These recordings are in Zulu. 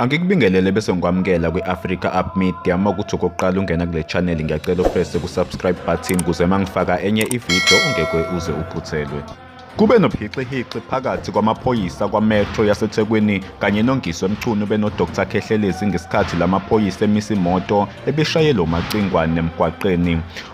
Angikubingelele bese ngikwamukela kwi-Africa Up Media uma ukuthi okokuqala ungena kule channel ngiyacela uprese ku-subscribe button kuze uma ngifaka enye ividiyo ungeke uze uphuthelwe. Kube nophixihixi phakathi kwamaphoyisa kwaMetro yaseThekwini kanye noNgiswe Mchunu benoDr Khehlelezi ngesikhathi lamaphoyisa emisa imoto ebishayela uMacingwane emgwaqeni.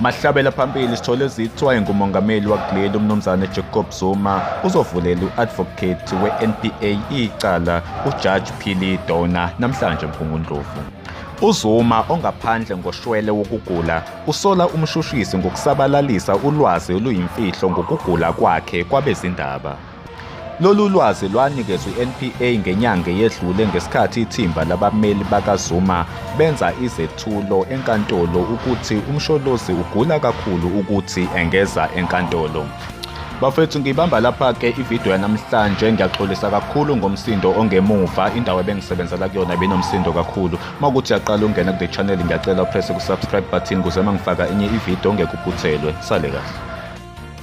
Mahlabela phambili sithole zithwa ngumongameli wakuleli umnumzane Jacob Zuma uzovulela u-advocate we-NPA icala uJudge Phili Dona namhlanje Mphungundlovu. UZuma ongaphandle ngoshwele wokugula usola umshushisi ngokusabalalisa ulwazi oluyimfihlo ngokugula kwakhe kwabezindaba. Lolu lwazi lwanikezwe iNPA ngenyanga eyedlule ngesikhathi ithimba labameli bakaZuma benza izethulo enkantolo ukuthi uMsholozi ugula kakhulu ukuthi engeza enkantolo. Bafethu ngibamba lapha ke ivideo yanamhlanje ngiyaxolisa kakhulu ngomsindo ongemuva indawo ebengisebenzela kuyona binomsindo kakhulu makuthi yaqala ungena kule channel ngiyacela upress ku subscribe button kuze mangifaka enye ivideo ngekuphuthelwe sale kahle